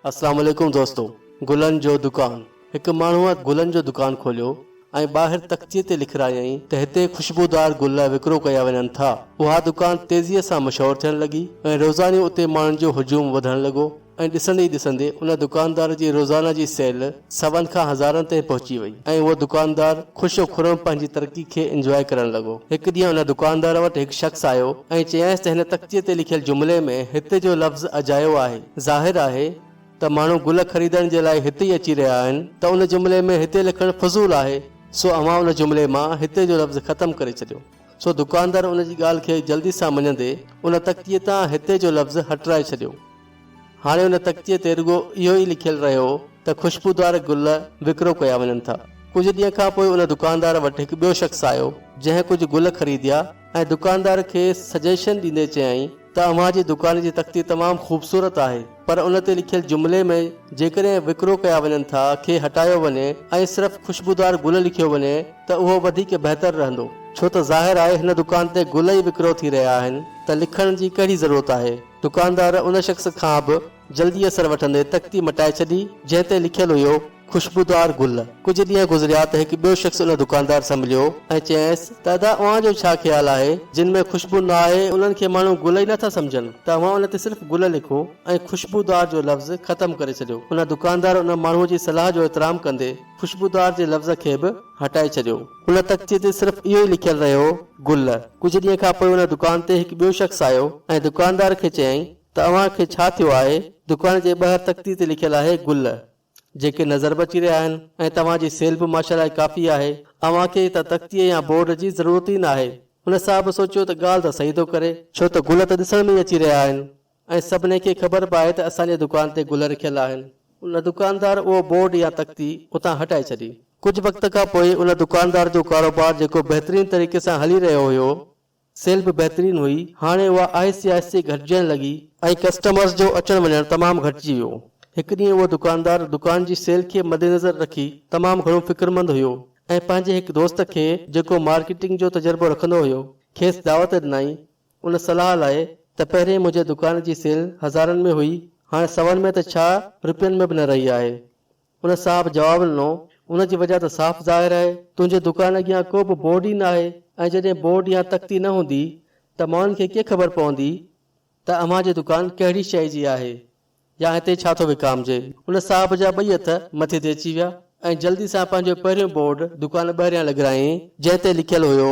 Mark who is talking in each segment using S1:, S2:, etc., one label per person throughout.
S1: السلام عليڪم دوستو گلن جو دڪان هڪ ماڻهوء گلن جو دڪان کوليو ۽ ٻاهر تختيء تي لکرايائين ته هتي خوشبودار گل وڪرو ڪيا وڃن ٿا اها دڪان تيزيء سان مشهور ٿيڻ لڳي ۽ روزاني اتي ماڻهن جو هجوم وڌڻ لڳو ۽ ڏسندي ئي ڏسندي ان دڪاندار جي روزانه جي سيل سون کان هزارن تائين پهچي وئي ۽ اهو دڪاندار خوش و خرم پنهنجي ترقي کي انجواء ڪرڻ لڳو. هڪ ڏينهن ان دڪاندار وٽ هڪ شخص آيو ۽ چيائينس ته هن تختيء تي لکيل جملي ۾ هت جو لفظ اجايو آهي. ظاهر آهي ته ماڻهو گل خريدڻ جي لاء هت ئي اچي رهيا آهن ته ان جملي ۾ هتي لکڻ فضول آهي سو اوهان ان جملي مان هتي جو لفظ ختم ڪري ڇڏيو. سو دڪاندار ان جي ڳالهه کي جلدي سان مڃندي ان تختيء تان هتي جو لفظ هٽرائي ڇڏيو. هاڻي ان تختيء تي رڳو اهو ئي لکيل رهيو هو ته خوشبودار گل وڪرو ڪيا وڃن ٿا. ڪجهه ڏينهن کان پوء ان دڪاندار وٽ هڪ ٻيو شخص آيو، جنهن ڪجهه گل خريديا ۽ دڪاندار کي سجيشن ڏيندي چيائين، ته اوهان جي دڪان جي تختي تمام خوبصورت آهي پر ان تي لکيل جملي ۾ جيڪڏهن وڪرو ڪيا وڃن ٿا کي هٽايو وڃي ۽ صرف خوشبودار گل لکيو وڃي ته اهو وڌيڪ بهتر رهندو ڇو ته ظاهر آهي هن دڪان تي گل ئي وڪرو ٿي رهيا آهن ته لکڻ جي ڪهڙي ضرورت آهي دڪاندار ان شخص کان به جلدي اثر وٺندي تختي مٽائي ڇڏي، جنهن تي لکيل هيو، خوشبودار گل. ڪجهه ڏينهن گذريا ته هڪ ٻيو شخص ان دڪاندار سان مليو ۽ چيائينس ته ادا اوهان جو ڇا خيال آهي، جن ۾ خوشبو نه آهي، انهن کي ماڻهو گل ئي نه ٿا سمجهن ته اوهان ان تي صرف گل لکو ۽ خوشبودار جو لفظ ختم ڪري ڇڏيو. ان دڪاندار ان ماڻهوء جي صلاح جو احترام ڪندي خوشبودار جي لفظ کي به هٽائي ڇڏيو. هن تختي تي صرف اهو ئي لکيل رهيو، گل. ڪجهه ڏينهن کان پوء ان دڪان تي هڪ ٻيو شخص آيو ۽ دڪاندار کي چيائين، ته اوهان کي ڇا ٿيو آهي؟ دڪان جي ٻاهر تختي تي لکيل آهي گل جيڪي نظر به اچي رهيا آهن ۽ توهان جي سيل به ماشاءالله ڪافي آهي. اوهان کي ته تختي يا بورڊ جي ضرورت ئي ناهي. هن صاحب سوچيو ته ڳالهه ته صحيح ٿو ڪري. ڇو ته گل ته ڏسڻ ۾ ئي اچي رهيا آهن ۽ سڀني کي خبر به آهي ته اسان جي دڪان تي گل رکيل آهن. ان دڪاندار اهو بورڊ يا تختي اتان هٽائي ڇڏي. ڪجهه وقت کان پوء ان دڪاندار جو ڪاروبار جيڪو بهترين طريقي سان هلي رهيو هيو سيل به بهترين هئي، هاڻي اها آهستي آهستي گهٽجڻ لڳي، ۽ ڪسٽمرز جو اچڻ وڃڻ تمام گهٽجي ويو، هڪ ڏينهن اهو دڪاندار دڪان جي سيل کي مدنظر رکي تمام گهڻو فڪرمند هيو ۽ پنهنجي هڪ دوست کي جيڪو مارڪيٽنگ جو تجربو رکندو هيو کيس دعوت ڏنائين ان صلاح لاء ته پهرين منهنجي دڪان جي سيل هزارن ۾ هئي هاڻي سون ۾ ته ڇا رپين ۾ به نه رهي آهي ان صاحب جواب ڏنو، ان جي وجهه ته صاف ظاهر آهي، تنهنجي دڪان اڳيان ڪو به بورڊ ئي ناهي ۽ جڏهن بورڊ يا تختي نه هوندي ته ماڻهن کي ڪيئن خبر پوندي ته اوهان جي دڪان ڪهڙي شيء جي آهي يا هتي ڇا ٿو وڪامجي. ان صاحب جا ٻئي هٿ مٿي تي اچي ويا ۽ جلدي سان پنهنجو پهريون بورڊ دڪان ٻاهريان لڳرايائين، جنهن تي لکيل هيو،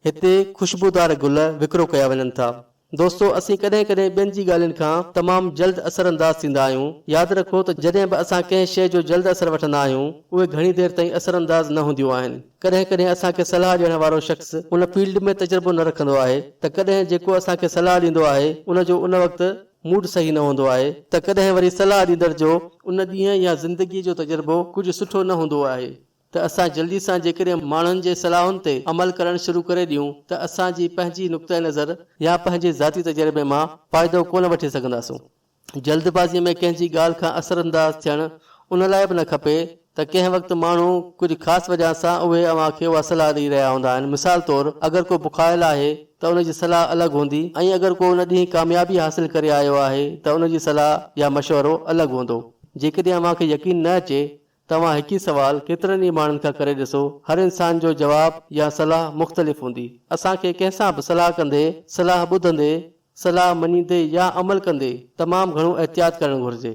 S1: هتي خوشبودار گل وڪرو ڪيا وڃن ٿا. دوستو اسين ڪڏهن ڪڏهن ٻين جي ڳالهين کان تمام جلد اثر انداز ٿيندا آهيون. ياد رکو ته جڏهن به اسان ڪنهن شيء جو جلد اثر وٺندا آهيون اهي گهڻي دير تائين اثر انداز نه هونديون آهن. ڪڏهن ڪڏهن اسان کي صلاح ڏيڻ وارو شخص ان فيلڊ ۾ تجربو نه رکندو آهي ته ڪڏهن جيڪو اسان کي صلاح ڏيندو آهي ان جو ان وقت موڊ صحيح نه هوندو آهي ته ڪڏهن وري صلاح ڏيندڙ جو ان ڏينهن يا زندگي جو تجربو ڪجهه سٺو نه هوندو آهي ته اسان جلدي سان جيڪڏهن ماڻهن جي صلاحن تي عمل ڪرڻ شروع ڪري ڏيون ته اسان جي پنهنجي نقطه نظر يا پنهنجي ذاتي تجربي مان فائدو ڪونه وٺي سگهنداسون. جلد بازي ۾ ڪنهن جي ڳالهه کان اثر انداز ٿيڻ ان لاء به نه کپي ته ڪنهن وقت ماڻهو ڪجهه خاص وجهان سان اهي اوهان کي اها صلاح ڏئي رهيا هوندا آهن مثال طور اگر ڪو بکايل آهي ته ان جي صلاح الڳ هوندي ۽ اگر ڪو ان ڏينهن ڪاميابي حاصل ڪري آيو آهي ته ان جي صلاح يا مشورو الڳ هوندو. جيڪڏهن اوهان کي يقين نه اچي توهان هڪ ئي سوال ڪيترن ئي ماڻهن کان ڪري ڏسو، هر انسان جو جواب يا صلاح مختلف هوندي. اسان کي ڪنهن سان به صلاح ڪندي، صلاح ٻڌندي، صلاح مڃيندي يا عمل ڪندي تمام گهڻو احتياط ڪرڻ گهرجي.